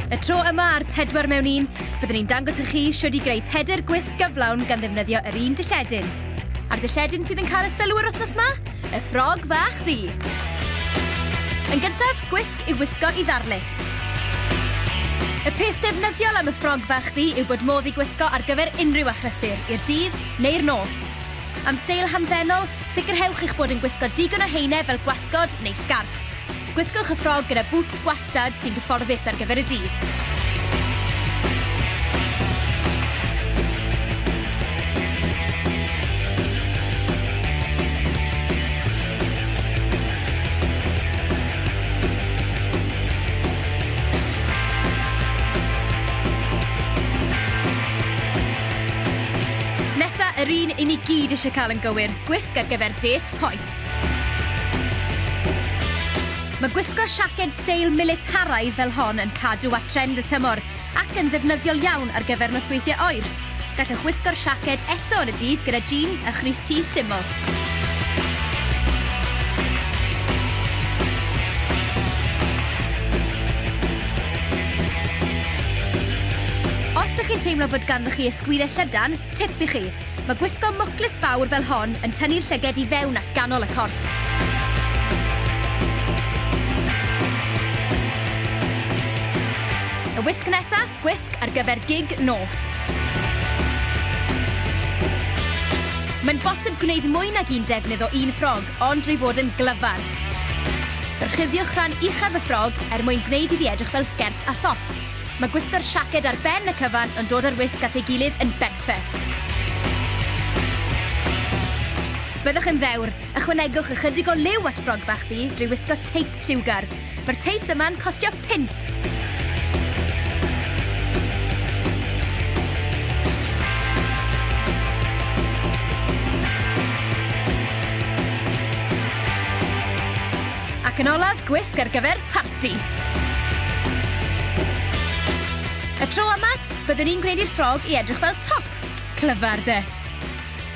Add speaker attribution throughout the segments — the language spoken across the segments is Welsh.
Speaker 1: Y tro yma ar pedwar mewn un, byddwn ni'n dangos i chi siwyd i greu pedr gwisg gyflawn gan ddefnyddio yr un dilledyn. A'r dilledyn sydd yn cael y sylw yr wythnos yma? Y ffrog fach ddi. Yn gyntaf, gwisg i wisgo i ddarlith. Y peth defnyddiol am y ffrog fach ddi yw bod modd i gwisgo ar gyfer unrhyw achrysur, i'r dydd neu'r nos. Am steil hamddenol, sicrhewch eich bod yn gwisgo digon o heine fel gwasgod neu sgarff. Gwisgwch y ffrog gyda bŵts gwastad sy'n gyfforddus ar gyfer y dydd. yr un i ni gyd eisiau cael yn gywir, gwisg ar gyfer dêt poeth. Mae gwisgo siaced steil militaraidd fel hon yn cadw at trend y tymor ac yn ddefnyddiol iawn ar gyfer nosweithiau oer. Gallwch wisgo'r siaced eto yn y dydd gyda jeans a chrys T syml. Os ych chi'n teimlo bod ganddoch chi ysgwyddau llydan, tip i chi, Mae gwisgo mwclis fawr fel hon yn tynnu'r llyged i fewn at ganol y corff. Y wisg nesa, gwisg ar gyfer gig nos. Mae'n bosib gwneud mwy nag un defnydd o un ffrog, ond drwy fod yn glyfar. Byrchuddiwch rhan uchaf y ffrog er mwyn gwneud iddi edrych fel sgert a thop. Mae gwisgo'r siaced ar ben y cyfan yn dod â'r wisg at ei gilydd yn berffaith. Byddwch yn ddewr! Ychwanegwch ychydig o liw at ffrog bach du drwy wisgo teits lliwgar. Mae'r teits yma'n costio punt! Ac yn olaf, gwisg ar gyfer parti! ati. Y tro yma, byddwn i'n gwneud i'r ffrog i edrych fel top! Clyfar, de?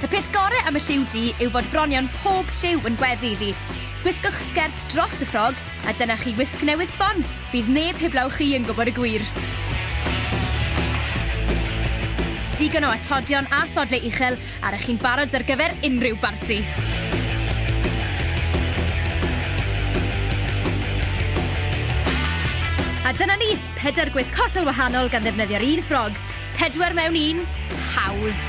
Speaker 1: Y peth gore am y lliw du yw fod bronion pob lliw yn gweddu iddi. Gwisgwch sgert dros y ffrog, a dyna chi wisg newydd sbon! Fydd neb heblaw chi yn gwybod y gwir. Digon o atodion a sodle uchel A r'ych chi'n barod ar gyfer unrhyw barti? A dyna ni, pedwar gwisg hollol wahanol gan ddefnyddio'r un ffrog. Pedwar mewn un, hawdd.